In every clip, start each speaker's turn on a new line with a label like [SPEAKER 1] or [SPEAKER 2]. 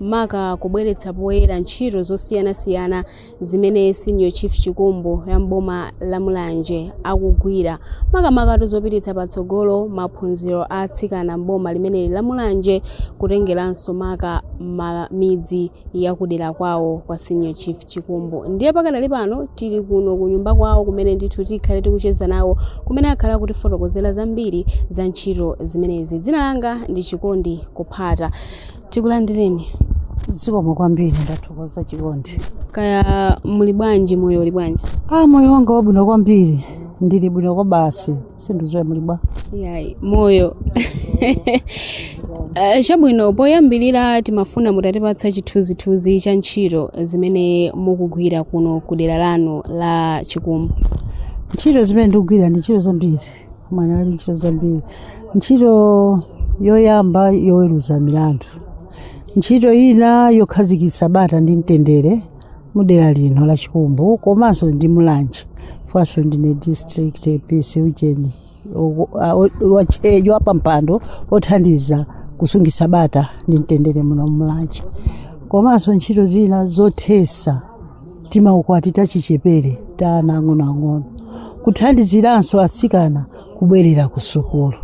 [SPEAKER 1] maka kubweretsa poyera ntchito zosiyanasiyana zimene Senior Chief Chikumbu wa m'boma la Mulanje akugwira makamaka tu zopititsa patsogolo maphunziro a atsikana m'boma limeneli la Mulanje kutengeranso maka midzi ya kudera kwawo kwa Senior Chief Chikumbu. Ndiye pakadali pano tili kuno ku nyumba kwawo kumene ndithu tikhale tikucheza nawo kumene akhale akutifotokozera zambiri za ntchito zimenezi. Dzina langa ndi Chikondi Kuphata. tikulandireni
[SPEAKER 2] zikomo kwambiri ndathokoza chikondi
[SPEAKER 1] kaya muli bwanji moyo uli bwanji a moyo wanga wabwino
[SPEAKER 2] kwambiri ndili bwino kwa basi sindidziwa muli bwa yayi moyo
[SPEAKER 1] Eh, chabwino poyambirira timafuna mutatipatsa chithunzithunzi cha ntchito zimene mukugwira kuno ku dera lanu la chikumbu ntchito
[SPEAKER 2] zimene ndikugwira ndi ntchito zambiri mwana ali ntchito zambiri ntchito yoyamba yoweruza milandu ntchito ina yokhazikitsa bata ndi mtendere mudera lino la chikumbu komanso ndi mulanje faso ndine district peace ujeni wapampando othandiza kusungitsa bata ndi mtendere muno mulanje komanso ntchito zina zothesa timaukwati tachichepere ta ana ang'onoang'ono kuthandiziranso atsikana kubwerera ku sukulu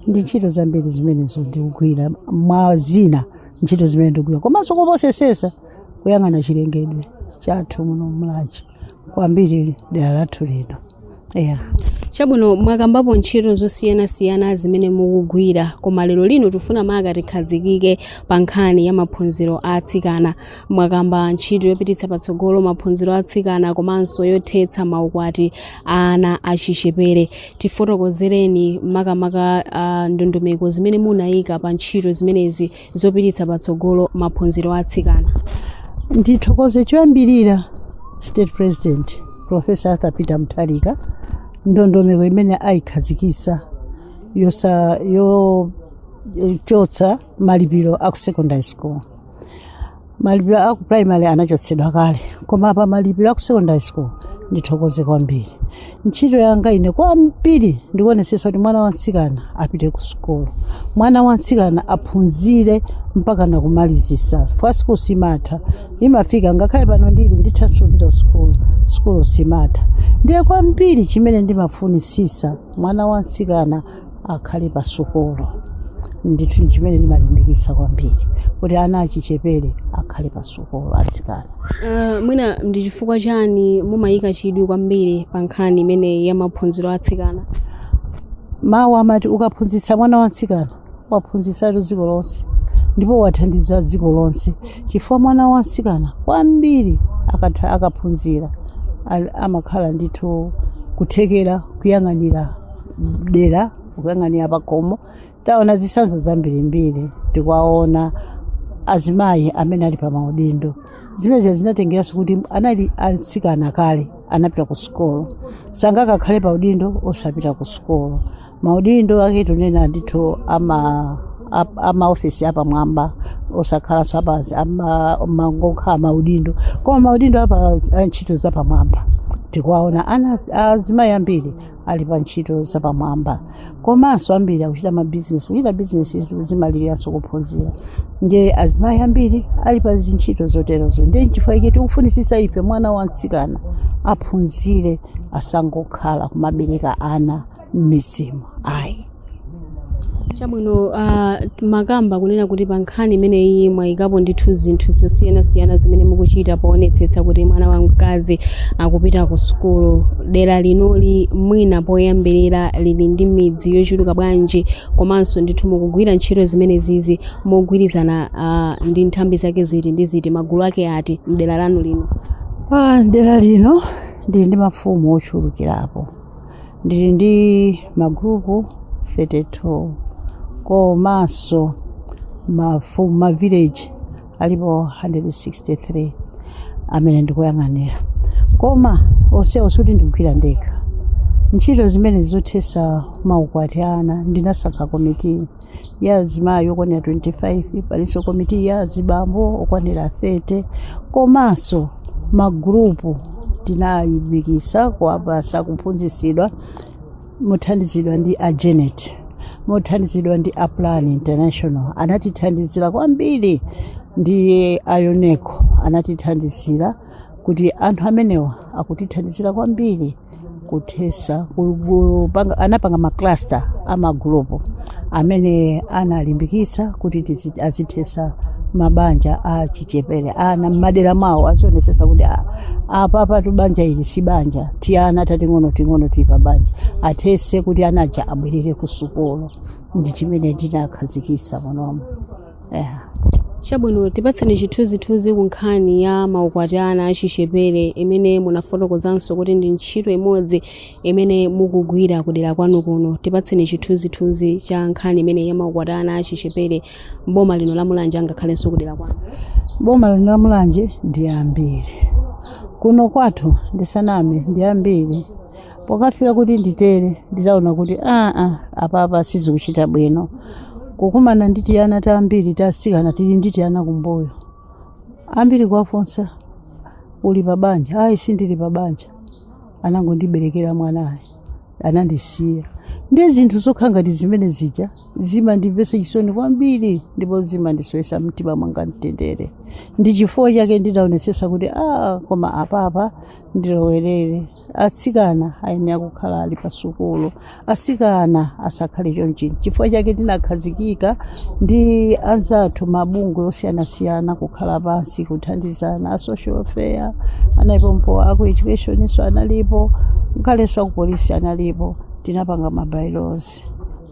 [SPEAKER 2] ndi ntchito zambiri zimenezo ndikugwira mwa zina ntchito zimene ndikugwira komanso koposesesa kuyang'ana chilengedwe chathu muno Mulanje kwambiri dera lathu lino yeah.
[SPEAKER 1] chabwino mwakambapo ntchito zosiyanasiyana zimene mukugwira koma lero lino tifuna maka tikhazikike pa nkhani ya maphunziro a atsikana mwakamba ntchito yopititsa patsogolo maphunziro a atsikana komanso yothetsa maukwati a ana achichepere tifotokozereni makamaka uh, ndondomeko zimene munayika pa ntchito zimenezi zopititsa patsogolo maphunziro a atsikana.
[SPEAKER 2] Ndithokoze choyambirira State President Professor Arthur Peter Mutharika ndondomeko imene ayikhazikisa ya yochotsa malipiro a ku secondary school malipiro a ku primary anachotsedwa kale koma pa malipiro a ku secondary school ndithokoze kwambiri ntchito yanga ine kwambiri ndikuonetsetsa kuti mwana wamtsikana apite ku sukulu mwana wamtsikana aphunzire mpaka nakumalizisa kwa sukulu simatha imafika ngakhale pano ndili ndithanso kupita ku sukulu sukulu simatha ndiye kwambiri chimene ndimafunisisa mwana wamtsikana akhale pa sukulu ndithu ndi chimene ndimalimbikitsa kwambiri kuti ana achichepere akhale pa sukulu atsikana Uh, mwina
[SPEAKER 1] ndi chifukwa chani mumayika chidwi kwambiri pa nkhani imeneyi ya maphunziro a atsikana
[SPEAKER 2] mawu amati ukaphunzitsa mwana wamtsikana waphunzitsatu dziko lonse ndipo wathandiza dziko lonse chifukwa mwana wamtsikana kwambiri akaphunzira al- amakhala ndithu kuthekera kuyang'anira dera kuyang'anira pakhomo taona zitsanzo zambirimbiri tikuwaona azimayi amene ali pa maudindo zimenezi zinatengeranso kuti anali atsikana kale anapita ku sukulu sangakakhale pa udindo osapita ku sukulu maudindo ake tikunena ndithu ama ap- amaofesi apamwamba osakhala zoti basi mangokhala maudindo koma maudindo apa a ntchito zapamwamba tikuwaona ana azimayi ambiri ali pa ntchito zapamwamba komanso ambiri akuchita mabizinesi kuchita bizinesi zijatu zimaliranso kuphunzira ndiye azimayi ambiri ali pa zintchito zoterozo ndiye nchifukwa chake tikufunisisa ife mwana wa mtsikana aphunzire asangokhala kumabereka ana m'midzimu ayi
[SPEAKER 1] chabwino uh, mwakamba kunena kuti pa nkhani imeneyi mwayikapo ndithu zinthu zosiyanasiyana zimene mukuchita poonetsetsa kuti mwana wamkazi akupita ku sukulu dera linoli mwina poyambirira lili ndi midzi yochuluka bwanji komanso ndithu mukugwira ntchito zimenezizi mogwirizana uh, ndi nthambi zake ziti ndi ziti magulu ake ati mdera lanu lino Ah, dera
[SPEAKER 2] lino ndili ndi mafumu ochulukirapo ndili ndi magrupu 32 komanso mafu- mavileji alipo 163 amene ndikuyang'anira koma onsewo sikuti ndikugwira ndekha ntchito zimenezi zothesa maukwati a ana ndinasankha komiti ya azimayi okwanira 25 palinso komiti ya azibambo okwanira 30 komanso magulupu tinalimbikisa kuwapasa kuphunzisidwa mothandizidwa ndi a GENET mothandizidwa ndi a plan international anatithandizira kwambiri ndi a YONECO anatithandizira kuti anthu amenewa akutithandizira kwambiri kuthesa ku- kupanga- anapanga macluster amagulupu amene analimbikitsa kuti tizi- azithesa mabanja a chichepere ana mmadera mawo azionesesa kuti a- apapatu banja ili si banja tiana tating'ono ting'ono tili pa banja athese kuti anaja abwerere ku sukulu ndi chimene tinakhazikitsa munomo yeah.
[SPEAKER 1] chabwino tipatseni chithunzithunzi ku nkhani ya maukwati a ana achichepere imene munafotokozanso kuti ndi ntchito imodzi imene mukugwira kudera kwanu kuno tipatseni chithunzithunzi cha nkhani imeneyi ya maukwati a ana achichepere mboma lino la mulanje angakhalenso kudera kwanu boma lino la
[SPEAKER 2] mulanje ndi ambiri kuno kwathu ndisaname ndi ambiri pokafika kuti nditere nditaona kuti aa apapa sizikuchita bwino kukumana ndi tiana tambiri tasikana tili ndi tiana kumbuyo ambiri kuwafunsa uli pa banja ayi sindili pa banja anangondiberekera mwanayo anandisiya ndi zinthu zokha ngati zimene zija zimandimvesa chisoni kwambiri ndipo zimandisowesa mtima mwanga mtendere ndi chifukwa chake ndidaonesesa kuti a koma apapa ndilowerere atsikana ayenera kukhala ali pa sukulu atsikana asakhale chonchi chifukwa chake tinakhazikika ndi anzathu mabungwe osiyanasiyana kukhala pansi kuthandizana a social welfare analipo aku educationso analipo ngalenso aku polisi analipo tinapanga mabailozi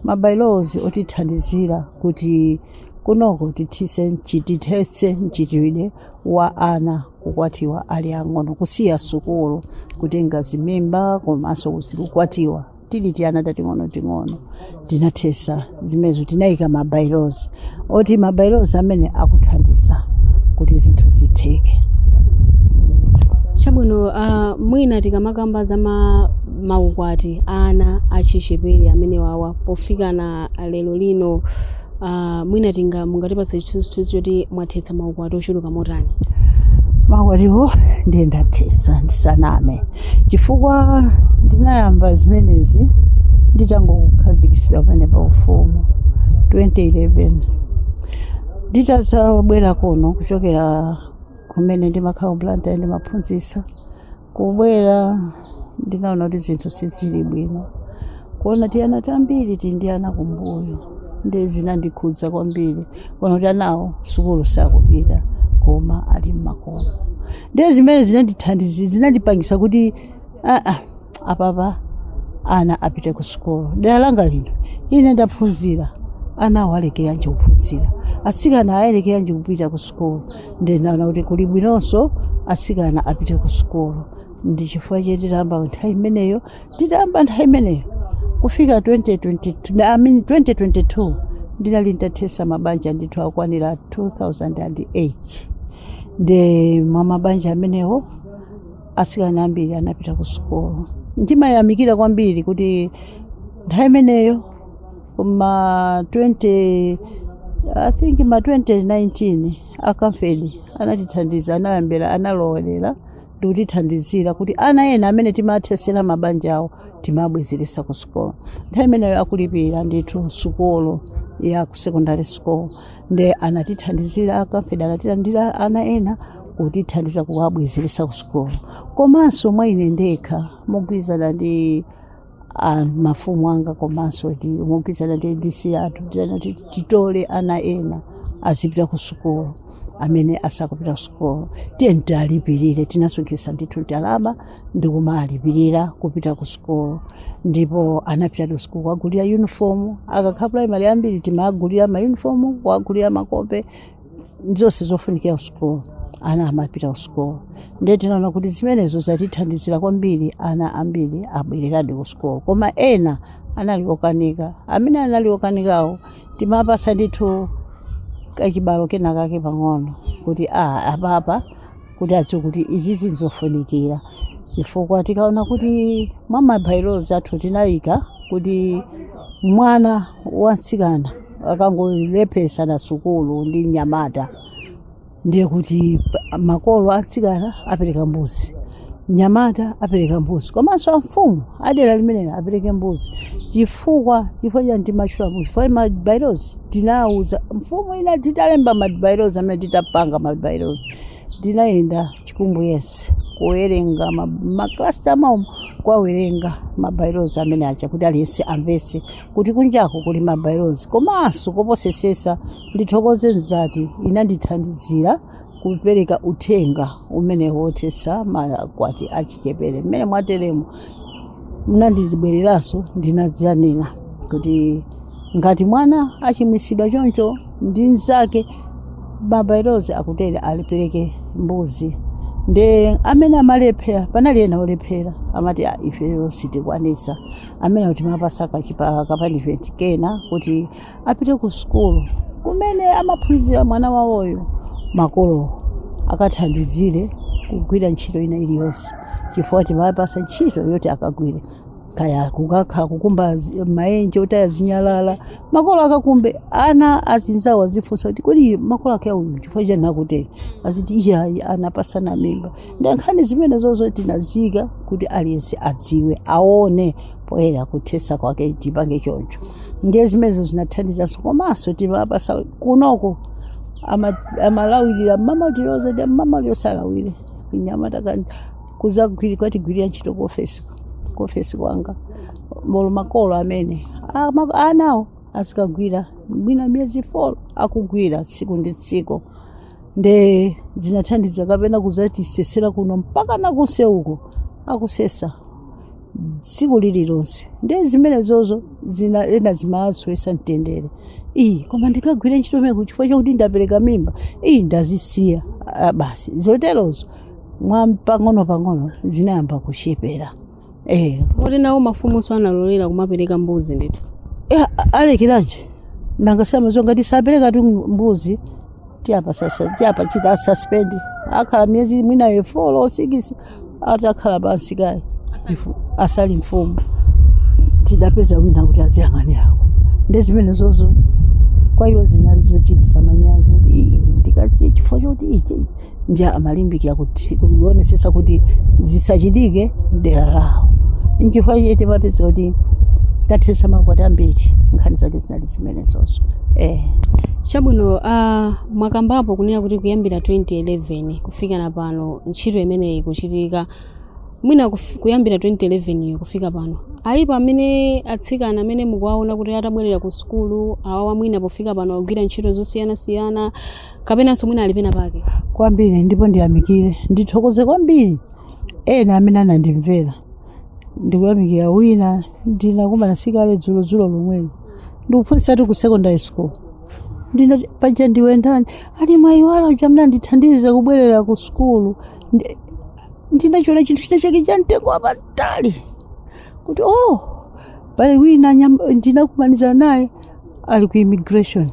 [SPEAKER 2] mabailozi otithandizira kuti kunoko tithetse mchitidwe wa ana kukwatiwa ali ang'ono kusiya sukulu kutenga zimimba komanso kusi- kukwatiwa tili tiana tating'onoting'ono tinathesa zimenezo tinayika mabailozi oti mabailozi amene akuthandiza kuti zinthu zitheke
[SPEAKER 1] chabwino uh, mwina tikamakamba za ma, maukwati ana achichepere amene wawa pofika na lero lino uh, mwina tinga mungatipatse chithunzithunzi choti mwathetsa maukwati ochuluka motani maukwatiwo
[SPEAKER 2] ndiye ndathetsa ndisaname chifukwa ndinayamba zimenezi nditangokhazikitsidwa kumene pa ufumu 2011 nditazabwera kuno kuchokera kumene ndimakhala ku blantyre ndimaphunzitsa kubwera ndinaona kuti zinthu sizili bwino kuona tiana tambiri tili ndi ana kumbuyo ndiye zinandikhudza kwambiri kuona kuti anawo sukulu sakupita koma ali mmakomo ndiye zimene zinandithandizi zinandipangisa kuti aa apapa ana apite ku sukulu dera langa lino ine ndaphunzira anawo alekerenji kuphunzira atsikana alekerenji kupita ku sukulu ndinaona kuti kuli bwinonso atsikana apite ku sukulu ndi chifukwa chake nditayamba nthawi imeneyo nditayamba nthawi imeneyo kufika 2022 I mean 2022 ndinali nditathetsa mabanja ndithu akwanira 2008 ndiye mwa mabanja amenewo atsikana ambiri anapita ku sukulu ndimayamikira kwambiri kuti nthawi imeneyo ma 20 i think ma 2019 a Camfed anatithandiza anayambira analowerera ndikutithandizira kuti ana ena amene timathesera mabanja awo timabwezeretsa ku sukulu nthawi imeneyo akulipira ndithu sukulu ya ku secondary school nde anatithandizira a Camfed anatithandizira ana ena kutithandiza kuwabwezeretsa ku sukulu komanso mwa ine ndekha mogwirizana ndi a mafumu anga komanso kuti mogwirizana ndi adc athu titole ana ena azipita ku sukulu amene asakupita ku sukulu tiye tialipirire tinasonkhetsa ndithu ndalama ndi kumalipirira kupita ku sukulu ndipo anapita ku sukulu kuwagulira yunifomu akakhala primary ambiri timagulira mayunifomu kuwagulira makope zonse zofunikira kusukulu ana amapita kusukulu ndiye tinaona kuti zimenezo zatithandizira kwambiri ana ambiri abwereradi kusukulu koma ena anali okanika amene anali okanikawo timawapatsa ndithu kachibalo kena kake pang'ono kuti a apapa kuti adziwe kuti izizi nzofunikira chifukwa tikaona kuti mwa mabailozi athu tinayika kuti mwana wamtsikana akangolepheretsana sukulu ndi mnyamata ndiye kuti pa- makolo atsikana apereka mbuzi mnyamata apereka mbuzi komanso amfumu adera limenelo apereke mbuzi chifukwa cha ndi ndimatchula mbuzi chifukwa mabailozi tinawuza mfumu ina titalemba mabailozi amene titapanga mabailozi Ndinayenda chikumbu yense kuwerenga ma- maklasta maomo kuwawerengera mabailozi amene aja kuti aliyense amvetse kuti kunjako kuli mabailozi komanso koposesesa ndithokoze mzati inandithandizira kupereka uthenga umenewo wothetsa makwati achichepere mmene mwateremu mna ndibwereranso ndinasiya nena kuti ngati mwana achimwisidwa choncho ndi nzake mabailozi akutere apereke mbuzi nde amene amalephera panali ena olephera amati "Ah, ifeyo sitikwanisa amenewo timawapatsa kachi- kapanishimenti kena kuti apite ku sukulu kumene amaphunzira mwana wawoyo makolowo akathandizire kugwira ntchito ina iliyonse chifukwa timawapatsa ntchito yoti akagwire kaya kukakhala kukumba zi- maenje otaya zinyalala makolo akakumbe ana azinzawo azifunsa kuti kodi makolo ake a uyu chifukwa chani akutero aziti iyayi anapasana mimba ndi nkhani zimenezozo tinaziika kuti aliyense adziwe aone poyera kuthetsa kwake tipange choncho ndiye zimenezo zinathandizanso komanso timapatsa kunoko ama- amalawirira mmamatiroza ndi mmamaliyo salawire anyamata kudzagwiri kwatigwirira ntchito ku ofesi ku ofesi kwanga olo makolo amene ama- anawo azikagwira mwina miyezi 4 akugwira tsiku ndi tsiku nde zinathandiza kapena kudzatisesera kuno mpaka nakuseuko akusesa tsiku lililonse nde zimenezozo zina ana zimawasowetsa mtendere iyi koma ndikagwire ntchito imene uko chifukwa chakuti ndapereka mimba iyi ndazisiya Ah, basi zoterozo mwa pang'ono pang'ono zinayamba kuchepera eh
[SPEAKER 1] moti nawo mafumunso analekera kumapereka mbuzi ndithu eh,
[SPEAKER 2] alekeranji nanga amadziwa ngati sapereka 2 mbuzi tiwapa sasa tiwachita suspend akhala miyezi mwina eh 4 or 6 atakhala pansi kaye Ifu- asali mfumu tidapeza wina kuti aziyang'anirako nde zimene zozo kwa iwo zinali zochitisa manyazi kuti "Ii, ndikasiye chifukwa choti ichi ichi." nde amalimbikira kuti kuonetsetsa kuti zisachitike mdera lawo nchifukwa chake timapeza kuti tathetsa makwati ambiri nkhani zake zinali zimenezozo eh.
[SPEAKER 1] chabwino uh, mwakambapo kunena kuti kuyambira 2011 kufika na pano ntchito imeneyi ikuchitika mwina kuf- kuyambira 2011 iyo kufika pano alipo amene atsikana amene mukuwaona kuti atabwerera ku sukulu awawa mwina pofika pano agwira ntchito zosiyanasiyana kapenanso mwina ali pena pake kwambiri
[SPEAKER 2] ndipo ndiyamikire ndithokoze kwambiri ena amene anandimvera ndikuyamikira wina ndinakumana sikale dzulodzulo lomweli akuphunzitsatu ku secondary school ndinati paja ndiwe ndani ali mwayiwala uja mnandithandiza kubwerera ku sukulu Ndi- ndinachiona chinthu china chake cha mtengo wapatali kuti oh pali wina nyam- ndinakumana naye ali ku immigration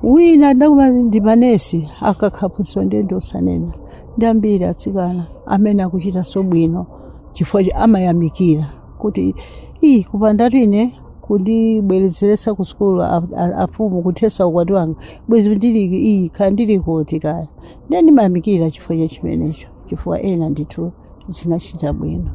[SPEAKER 2] wina ndakumana ndi manesi aka aphunzitsi ndiye ndiosanena ndi ambiri atsikana amene akuchitanso bwino chifukwa cha- amayamikira kuti iyi kupandatu inu kundibwezeretsa ku sukulu a- a- afumu kuthetsa ukwati wanga bwezi ndili iyi kaya ndili kuti kaya ndiye ndimayamikira chifukwa cha chimenecho chifukwa ena ndithu zinachita bwino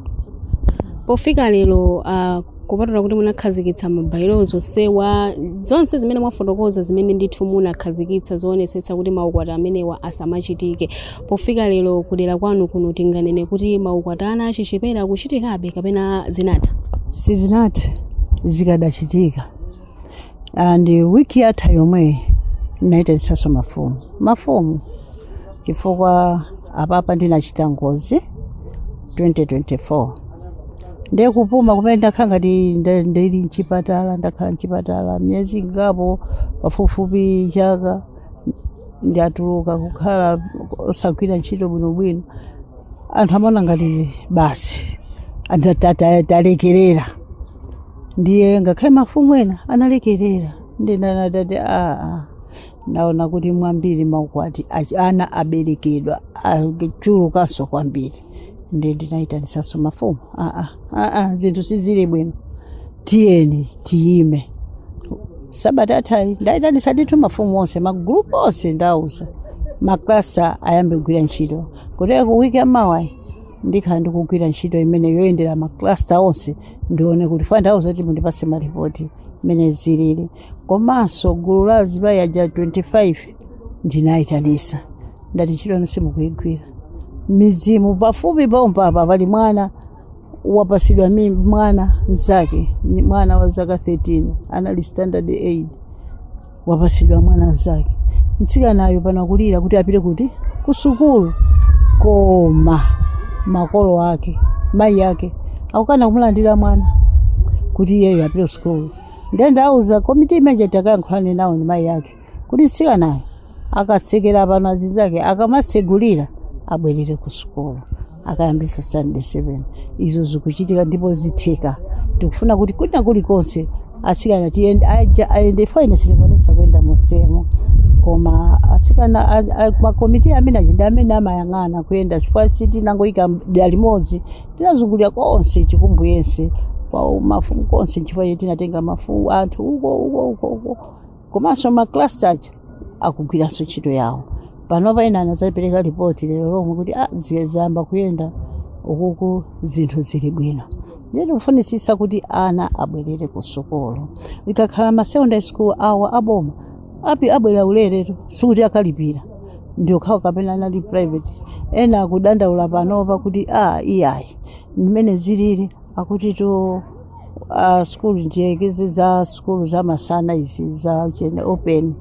[SPEAKER 1] pofika lero uh, kupatula kuti munakhazikitsa ma by-laws onsewa zonse zimene mwafotokoza zimene ndithu munakhazikitsa zoonetsetsa kuti maukwati amenewa asamachitike pofika lero kudera kwanu kuno tinganene kuti maukwati a ana achichepere akuchitikabe kapena zinatha sizinathe
[SPEAKER 2] zikadachitika and wiki yatha yomweyi ndinayitanitsanso mafumu mafumu chifukwa apapa ndinachita ngozi 2024 ndiye kupuma kumene ndakhala ngati nda- ndili mchipatala ndakhala mchipatala miyezi ingapo pafupifupi chaka ndatuluka kukhala osagwira ntchito bwinobwino anthu amaona ngati basi anda- ta- ta- talekerera ndiye ngakhale mafumu ena analekerera ndina anati ati aa naona kuti mwambiri maukwati achi- ana aberekedwa achulukanso kwambiri ndiye ndinayitanisanso mafumu aa aa zinthu sizili bwino tiyeni tiyime sabata yathayi ndayitanisa ndithu mafumu onse magulupu onse ndawauza maklasta ayambe kugwira ntchito kuteroko wiki yamawayi ndikhala ndikugwira ntchito imene yoyendera maklasta onse ndione kuti chifukwa ndawauza kuti mundipase malipoti mmene zilili komanso gulu la azimayi aja 25 ndinayitanisa ndati ntchito yanu simukuyigwira mmidzimu pafupi pompapa pali mwana wapasidwa mi mwana mzake ni mwana wa zaka 13 anali standard 8 wapasidwa mwana mzake mtsikanayo pano akulira kuti apite kuti kusukulu koma makolo ake mayi ake akukana kumulandira mwana kuti iyeyo apite kusukulu ndiye ndauza komiti imeja kuti akayankhulane nawo ndi mayi ake kuti mtsikanayo akatsekera pano azinzake akamatsegulira abwerere kusukulu akayambirenso standard 7 izo zikuchitika ndipo zitheka tikufuna kuti kwina kulikonse asikana tiyende aja- ayende chifukwa ine sindikwanisa kuyenda monsemo koma asikana a- a- makomiti amene achida amene amayang'ana kuyenda chifukwa sitinangoyika dera limodzi tinazungulira konse chikumbu yense kwa mafumu konse nchifukwa chake tinatenga mafumu anthu uko uko uko uko komanso maklasta aja akugwiranso ntchito yawo panopa ena anazapereka ripoti lero lomwe kuti a ziyamba kuyenda ukuku zinthu zili bwino ndiye tikufunitsitsa kuti ana abwerere ku sukulu ikakhala ma secondary school awa aboma api- abwerera uleretu sikuti akalipira ndi okhawo kapena anali private ena akudandaula panopa kuti a iyayi mmene zilili akuti to a sukulu ndiyerekeze za sukulu za masana izi za chene open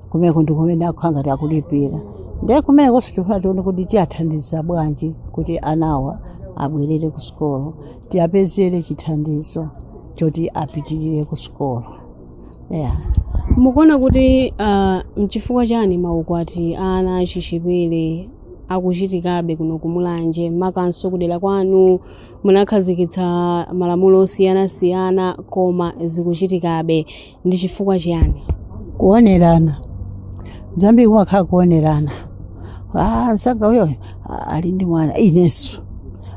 [SPEAKER 2] kumeneko ndi kumene akhala ngati akulipira ndiye kumenekonso tikufuna tione kuti tiyathandiza bwanji kuti anawa abwerere ku sukulu tiyapezere chithandizo choti apitirire ku sukulu yeah.
[SPEAKER 1] mukuona kuti ah, mchifukwa chani maukwati a ana achichepere akuchitikabe kuno ku mulanje makanso kudera kwanu Munakhazikitsa malamulo osiyanasiyana koma zikuchitikabe. Ndi chifukwa chiyani? Kuonerana.
[SPEAKER 2] Zambiri kumakhala kuonerana. Ah, mzanga uyoyo ah, ali ndi mwana inenso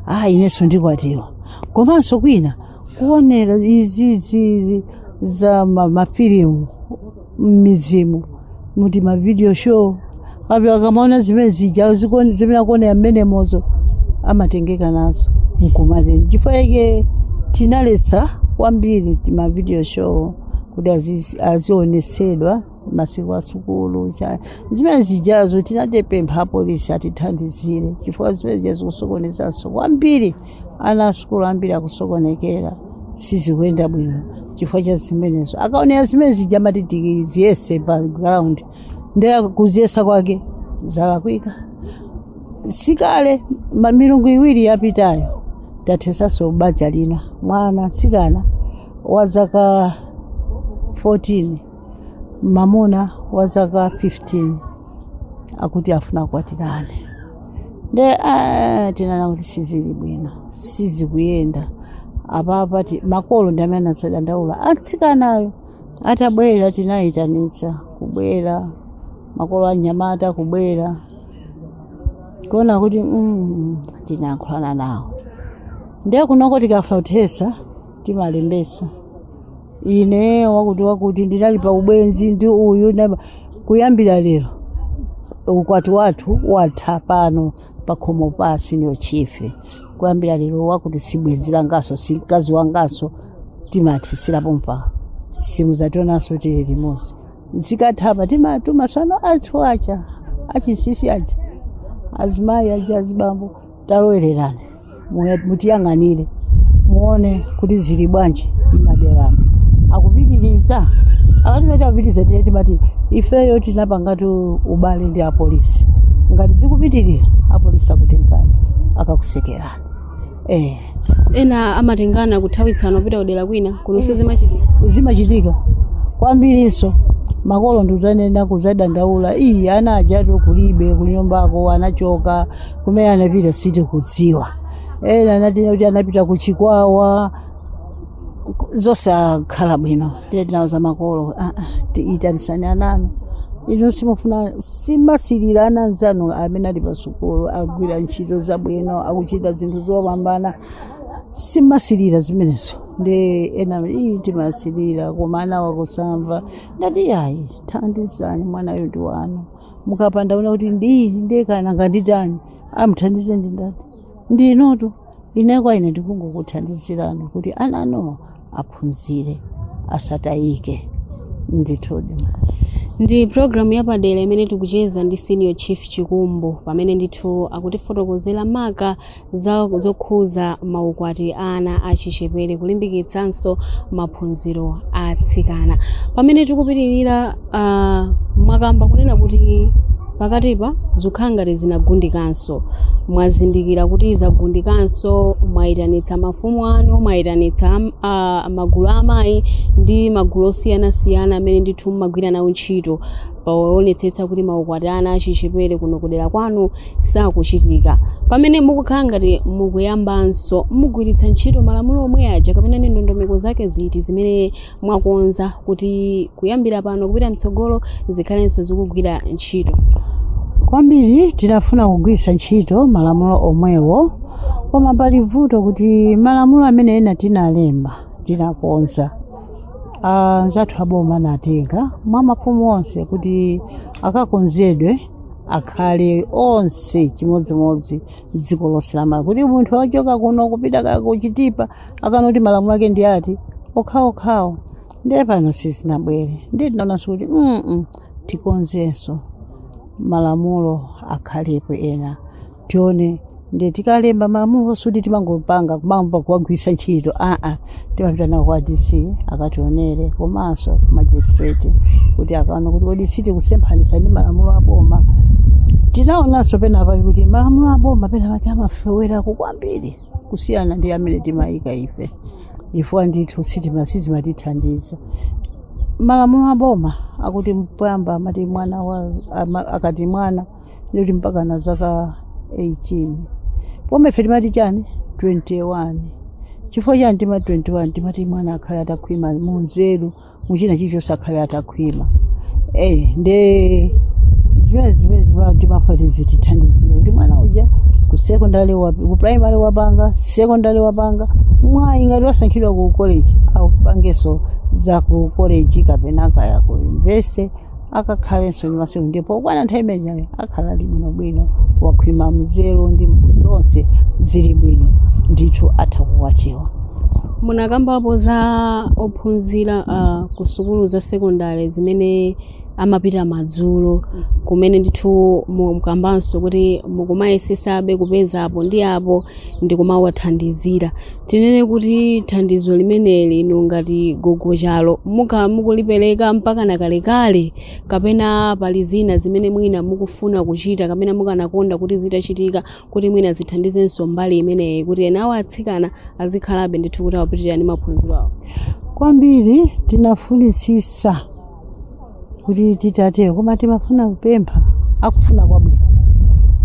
[SPEAKER 2] ah, inenso ndikwatiwa komanso kwina kuonera izizi za ma- mafilimu mmizimu mu tima video show kapena akamaona zimene zija zikon- zimene akuonera mmenemozo amatengeka nazo nkumatere chifukwa chake tinaletsa kwambiri tima video show kuti aziz- azionesedwa masiku a sukulu cha- zimene zijazo tinatapempha apolisi atithandizire chifukwa zimene zija zikusokonezanso kwambiri Ana a sukulu ambiri akusokonekera, sizikuyenda bwino chifukwa cha zimenezo. Akaonera zimene zija amati tikaziyese pa ground, ndiye kuziyesa kwake zalakwika. Sikale ma- milungu iwiri yapitayo tathesanso banja lina mwana mtsikana wa zaka 14 mamuna wa zaka 15 akuti afuna kukwatirana nde ah, tinaona kuti sizili bwino sizikuyenda apapa ti- makolo ndi amene anadzadandaula atsikanayo atabwera tinayitanitsa kubwera makolo anyamata kubwera kuona kuti mm, tinayankhulana nawo ndiye kunoko tikafuna kuthesa timalembesa ine wakuti wakuti ndinali pa ubwenzi ndi uyu ndaba- kuyambira lero ukwati wathu watha pano pakhomo pa senior chief kuyambira lero wakuti sibwenzi langaso si mkazi wangaso timathisira pompa simuzationaso tili limodzi zikathapa timatuma tsono anthu aja achinsinsi aja azimayi aja azibambo talowererani Muya- mutiyang'anire muone kuti zili bwanji mmaderamo akupitiriza akati ah akupitiriza ndiye timati ifeyo tinapangatu ubale ndi apolisi ngati zikupitirira apolisi akutengani akakusekerani
[SPEAKER 1] eh. ena amatengana kuthawitsana kupita kudera kwina kuno sizimachitika
[SPEAKER 2] zimachitika kwambirinso makolo nkuzanena kuzadandaula iyi ana ajatu kulibe kunyumbako anachoka kumene anapita sitikudziwa ena anatiuza kuti anapita ku chikwawa zosakhala bwino tinawauza makolo ah, ah, ti- itanisani ananu inu simufuna simusilira ana anzanu amene ali pasukulu agwira ntchito zabwino akuchita zinthu zopambana simusilira zimenezo ndiye ena iyi timasilira koma ana wakusamva ndati yayi thandizani mwanayo ndi wanu mukapanda kuona kuti ndiichi ndekana nganditani amthandize ndi ndani ndi inutu ine kwa ine ndikungokuthandizirani kuti ana anuwa aphunzire asatayike ndithudi
[SPEAKER 1] ndi programu yapadera imene tikucheza ndi senior chief chikumbu pamene ndithu akutifotokozera maka za zokhuza maukwati a ana achichepere kulimbikitsanso maphunziro a atsikana pamene tikupitirira uh, mwakamba kunena kuti pakatipa zikukhala ngati zinagundikanso mwazindikira kuti zagundikanso mwayitanitsa mafumu anu mwayitanitsa am- a- magulu a amayi ndi magulu osiyanasiyana amene ndithu mumagwira nawo ntchito powonetsetsa kuti maukwati a ana achichepere kuno kudera kwanu sakuchitika. Pamene mukukhala ngati mukuyambanso, mugwiritsa ntchito malamulo omwe aja kapena ndi ndondomeko zake ziti zimene mwakonza kuti kuyambira pano kupita mtsogolo zikhalenso zikugwira ntchito?
[SPEAKER 2] Kwambiri tinafuna kugwiritsa ntchito malamulo omwewo, koma pali vuto kuti malamulo amene ena tinalemba tinakonza. anzathu aboma anatenga mwa mafumu onse kuti akakonzedwe akhale onse chimodzimodzi dziko lonse la malawi kuti munthu wachoka kuno kupita ka ku chitipa akaona kuti malamulo ake ndi ati okhaokhawo ndiye pano sizinabwere ndiye tinaonanso kuti mm tikonzenso malamulo akhalepo ena tione ndiye tikalemba malamulo sikuti timangopanga kumayamba kuwagwiritsa ntchito aa timapita nawo kwa dc akationere komanso magistrate kuti akaone kuti kodi sitikusemphanitsa ndi malamulo aboma tinaonanso penapake kuti malamulo aboma penapake amafewerako kwambiri kusiyana ndi amene timayika ife chifukwa ndithu sitima sizimatithandiza malamulo aboma akuti poyamba amati mwana wa ama- akati mwana ndi mpakana zaka 18 pomwe ife timati chani 21 chifukwa chani timati 21 timati mwana akhale atakhwima munzeru muchina chilichonse akhale atakhwima eh nde zimene zimene zimene timafuna kuti zitithandizire kuti mwana uja ku secondary wa ku primary wapanga secondary wapanga mwayi ngati wasankhidwa ku college akapangenso za ku college kapena kaya ku university akakhalenso ndi masiku ndipo pokwana nthawi imeneyo akhala ali bwinobwino wakhwima nzeru ndi zonse zili bwino ndithu atha kukwatiwa munakambapo
[SPEAKER 1] za ophunzira uh, ku sukulu za sekondari zimene amapita madzulo kumene ndithu mukambanso kuti mukumayesetsabe kupeza apo ndi apo ndi kumawathandizira. Tinene kuti thandizo limeneli inu ngati gogo chalo mukhala mukulipereka mpakana kalekale kapena pali zina zimene mwina mukufuna kuchita kapena mukanakonda kuti zitachitika kuti mwina zithandizenso mbali imeneyi kuti enawo atsikana azikhalabe ndithu kuti akupitirira ndi maphunziro awo? Kwambiri tinafunitsitsa
[SPEAKER 2] kuti titate koma timafuna kupempha akufuna kwabwino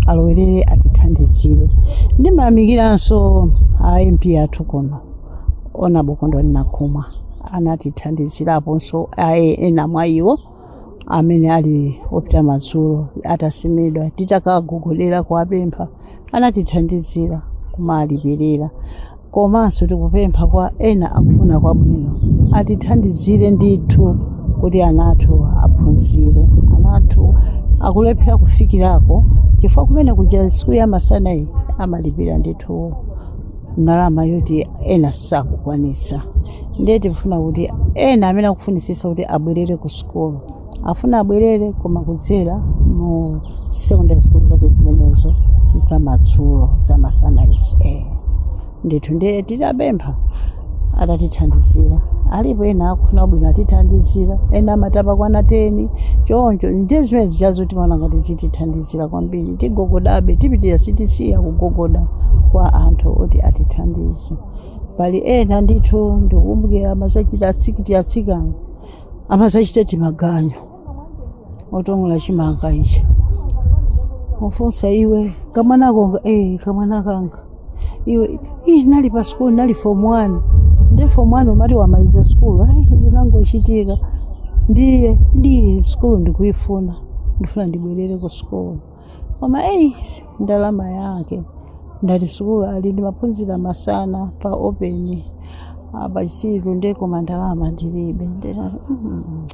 [SPEAKER 2] alowerere atithandizire ndimayamikiranso a mp athu kuno Ona Kondwani Nankhumwa anatithandiziraponso aye ena mwa iwo amene ali opita madzulo atasimidwa titakagogolera kuwapempha anatithandizira kumalipilela komanso tikupempha kwa ena akufuna kwabwino atithandizire ndithu kuti ana athu aphunzire ana athu akulephera kufikirako chifukwa kumene kuja sukulu ya masana iyi amalipira ndithu ndalama yoti ena sakukwanisa ndiye tifuna kuti ena amene akufunisisa kuti abwerere ku sukulu Afuna abwerere koma kudzera mu secondary school zake zimenezo zamadzulo zamasana izi eh. ndithu ndiye tidapempha atatithandizira alipo ena akufuna kwabwino atithandizira ena amatha pokwana teni choncho ndiye zimene zichazo timaona ngati zitithandizira kwambiri tigogodabe tipitira sitisiya kugogoda kwa anthu oti atithandize pali ena ndithu ndikukumbukira amazachita asikiti atsikana amazachita timaganyu otong'ola chimanga ichi ufunsa iwe kamwanako nga eh, kamwana kanga iwe ih, ndinali pa sukulu ndinali form one nde form one umati wamaliza sukulu ayi zinangochitika ndiye ndiye sukulu ndikuifuna ndifuna ndibwerere ku sukulu koma eyi ndalama yake ndati sukulu ali ndi maphunziro masana pa open apa chisiru nde koma ndalama ndilibe ndinati "Mm,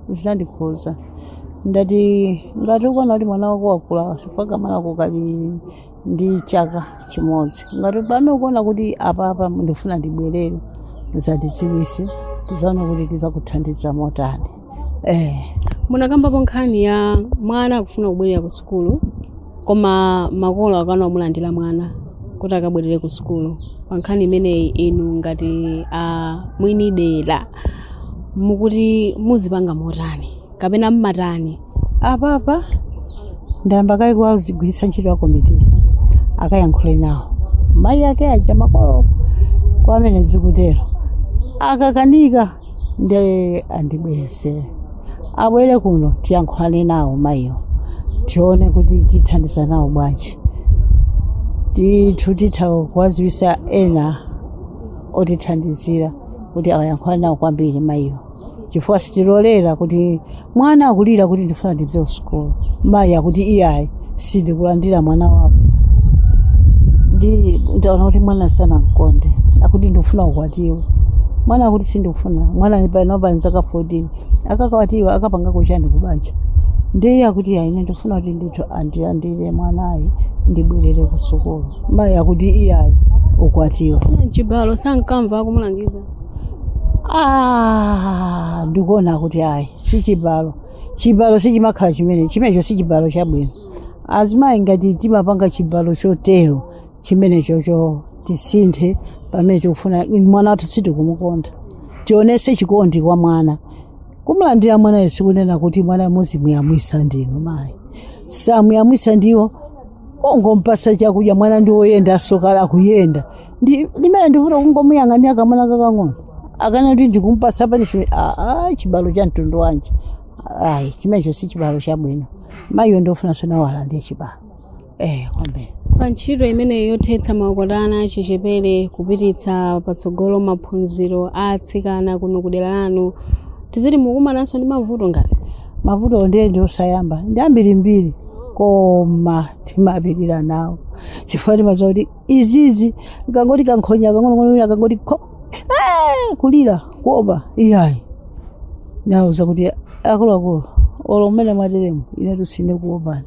[SPEAKER 2] zandikhudza ndati ngati ukona kuti mwana wako wakula chifukwa mwanako kali ndi chaka chimodzi ngati pano ukuona kuti apapa ndifuna ndibwerere uzatidziwise tizaona kuti tizakuthandiza motani
[SPEAKER 1] eh. munakambapo nkhani ya mwana akufuna kubwerera ku sukulu koma makolo akana kumulandira mwana kuti akabwerere ku sukulu pa nkhani imeneyi inu ngati a mwini dera mukuti muzipanga motani kapena mmatani
[SPEAKER 2] apapa ndayamba kaye kuwagwiritsa ntchito a komiti akayankhule nawo mayi ake aja makolo kwa amene zikutero akakanika nde andibweretsere abwere kuno tiyankhulane nawo mayiwo tione kuti tithandiza nawo bwanji tithu titha kuwaziwisa ena otithandizira kuti akayankhulane nawo kwambiri mayiwo chifukwa sitilolera kuti mwana akulira kuti ndifuna ndipite ku sukulu mayi akuti iyayi sindikulandira mwana wako ndaona kuti mwana sanamkonde akuti ndikufuna ukwatiwe mwana akuti sindikufuna mwana panopa nzaka 14 akakwatiwa akapanga ko chani kubanja ndiye akuti ayi ine ndikufuna kuti ndithu andilandire mwanayi ndibwerere ku sukulu mayi akuti iyayi ukwatiwe chibalo
[SPEAKER 1] sankamva akumulangiza
[SPEAKER 2] Ah, ndikuona kuti ayi si chibalo chibalo sichimakhala chimene chimenecho si chibalo chabwino azimayi ngati timapanga chibalo chotero chimenechocho tisinthe pamene tikufuna mwana wathu sitikumukonda tionese chikondi kwa mwana kumulandira mwana sikunena kuti mwana muzimuyamwisa ndinu mayi samuyamwisa ndiye kungompasa chakudya mwana ndi woyenda azikhala akuyenda Ndi- ndimene ndikuti kungomuyang'anira kamwana kakang'ono akana kuti ndikumpasa punishment aa chibalo cha mtundu wanji ayi chimenecho si chibalo chabwino mayiyo ndiofunanso nawo alandire chibalo eh kwambiri pa ntchito
[SPEAKER 1] imeneyi yothetsa maukwati a ana achichepere kupititsa patsogolo maphunziro a atsikana kuno kudera lanu tiziti mukumananso ndi mavuto ngati mavuto ndiye
[SPEAKER 2] ndiosayamba, ndi ambirimbiri koma timapirira nawo chifukwa timaziwa kuti izizi kangoti kankhonya kakang'onong'ono kangoti kho Eh, kulira kuopa iyayi ndauza kuti akuluakulu olo mmene mwateremu ine sindikuopani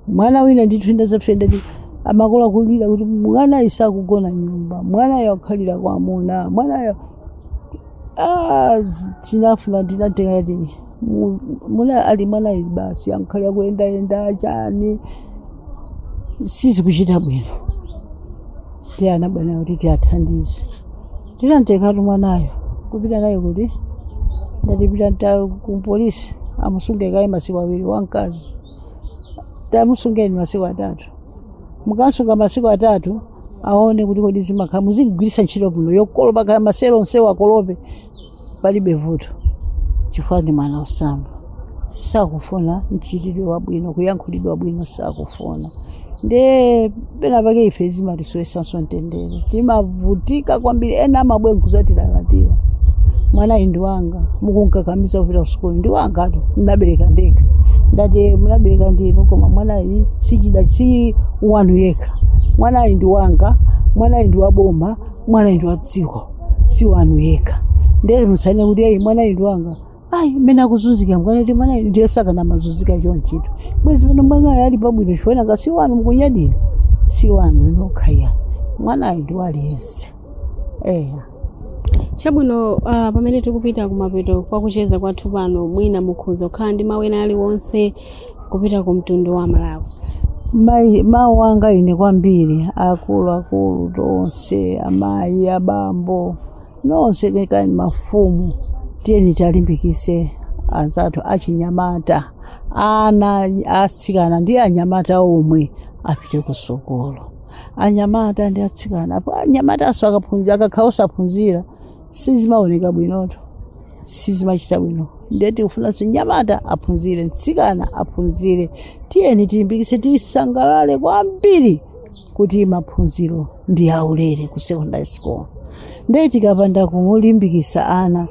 [SPEAKER 2] mwana wina ndithu anandipeza ndi amakolo akulira kuti mwanayi sakugona nyumba mwanayo akhalira kwa amuna mwanayo Ah, tinafuna tinatengati Mu- muna ali mwanayi basi ankhale akuyendayenda chani sizikuchita bwino ndiye ana bwanji kuti tiathandize tinamtengatu mwanayo kupita naye kuti ndati pita naye kupolisi amusunge kaye masiku awiri wamkazi tamusungeni masiku atatu mukamsunga masiku atatu aone kuti kodi zimakhala muzimgwirisa ntchito bwino yokolopa kaya maselo onsewo akolope palibe vuto chifukwa ndi mwana osamva sakufuna mchitidwe wabwino kuyankhulidwa bwino sakufuna nde pena pake ife zimatisowesanso mtendere timavutika kwambiri ena amabwera kuzatilalatira mwanayi ndi wanga mukunkakamiza kupita kusukulu ndi wangatu nnabereka ndekha ndati mnabereka ndinu koma mwanayi si wanu yekha mwanayi ndi wanga mwanayi ndi waboma mwanayi ndi wa dziko si wanu yekha ndiye musanene kuti ayi mwanayu ndi wanga ayi mmene akuzunzika mukana kuti mwanayu ndiye sakana mazunzika chonchito bwezi pano mwanayu ali pabwino chifukwa nga si wanu mukunyadira si wanu nokha ayi mwanayu ndi wa aliyense
[SPEAKER 1] eya chabwino uh, pamene tikupita kumapeto kwa kucheza kwathu pano mwina mukhoza kukhala ndi mawu ena aliwonse kupita ku mtundu wa Malawi. Ma-
[SPEAKER 2] mawu anga ine kwambiri akulu akulu tonse amayi abambo nonse kaya mafumu tiyeni tiwalimbikise anzathu achinyamata ana atsikana ndi anyamata omwe apite ku sukulu anyamata ndi atsikana anyamatanso akaphunzira akakhala osaphunzira sizimaoneka bwinoto sizimachita bwino ndiye tikufunanso mnyamata aphunzire mtsikana aphunzire tiyeni tilimbikise tisangalale kwambiri kuti maphunziro ndi aulere ku secondary school ndiye tikapanda kumulimbikisa ana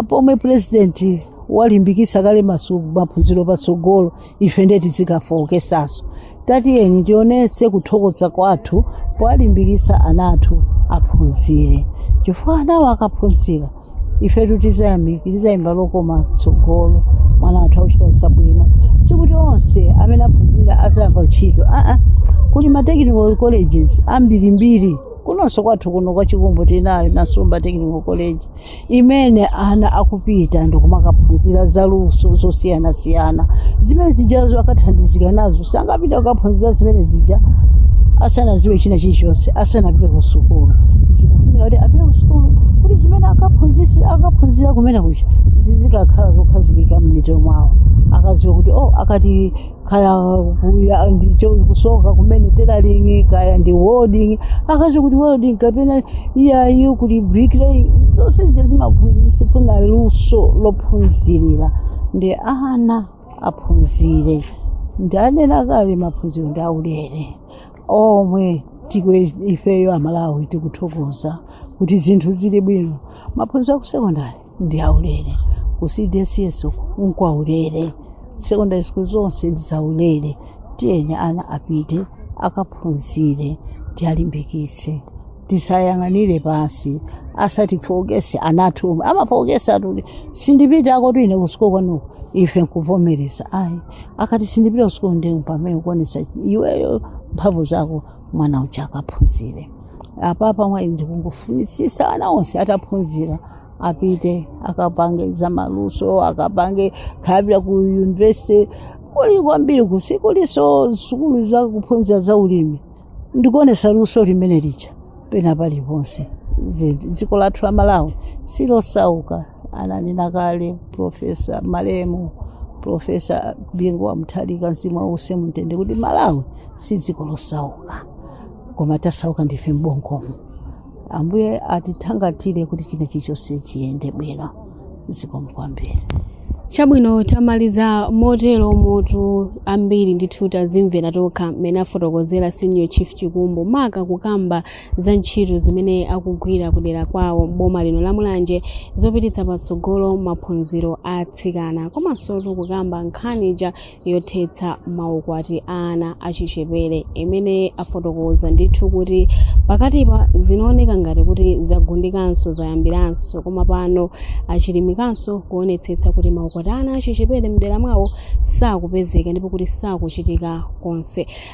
[SPEAKER 2] pomwe purezidenti walimbikisa kale masu- maphunziro patsogolo ife ndiye tizikafookesanso tatiyeni tionetse kuthokoza kwathu powalimbikitsa ana athu aphunzire chifukwa anawo akaphunzira ife tutizayamika tizayimba lokoma tsogolomo ana athu akuchita zabwino sikuti onse amene aphunzira azayamba ntchito aa kuli ma technical colleges ambirimbiri kunonso kwathu kuno kwa Chikumbu tinayo Nasomba Technical College imene ana akupita ndikumakaphunzira za luso zosiyanasiyana zimene zijazo akathandizika nazo sangapita kukaphunzira zimene zija asanaziwe china chilichonse asanapite ku sukulu zikufunika kuti apite ku sukulu kuti zimene akaphunzisi akaphunzira kumene kuja zizikakhala zokhazikika m'mitima mwawo akaziwa kuti oh akati kaya kuya ndicho kusoka kumene tailoring kaya ndi welding akaziwe kuti welding kapena iyayi kuti bricklaying zonse zija zimaphunzi- zifuna luso lophunzirira ndiye ana aphunzire ndanena kale maphunziro ndi aulere omwe tikwe ifeyo amalawi tikuthokoza kuti zinthu zili bwino maphunziro akusekondari ndi aulere ku cdss uku nkwaulere secondary school zonse ndizaulere tiyeni ana apite akaphunzire tiwalimbikitse tisayang'anire pansi asatifookese anathu omwe amafookesa akuti sindipita akuti ine kusukulu kwanuko ife nkuvomereza ayi akati sindipita kusukulu ndi pamene kuonesa iweyo mphamvu zako mwana uja akaphunzire apapa mwayi ndikungofunitsitsa ana onse ataphunzira, apite akapange za maluso akapange kaya apita ku university kuli kwambiri kusukulu kuliso sukulu za kuphunzira za ulimi ndikuonesa luso limene lija pena paliponse zinthu dziko lathu la malawi silosauka ananena kale profesa malemu profesa bingu wa mutharika mzimu wawo uuse mumtende kuti malawi si dziko losauka koma tasauka ndife m'bongomu ambuye atithangatire kuti china chilichonse chiyende bwino zikomo kwambiri
[SPEAKER 1] chabwino tamaliza motero omvera ambiri ndithu tazimvera tokha mmene afotokozera senior chief chikumbu maka kukamba za ntchito zimene akugwira kudera kwawo m'boma lino la Mulanje zopititsa patsogolo maphunziro a atsikana komansotu kukamba nkhani ija yothetsa maukwati a ana achichepere imene afotokoza ndithu kuti pakatipa zinaoneka ngati kuti zagundikanso zayambiranso koma pano achilimikanso kuonetsetsa kuti maukwati a ana achichepere mdera mwawo sakupezeka ndipo kuti sakuchitika konse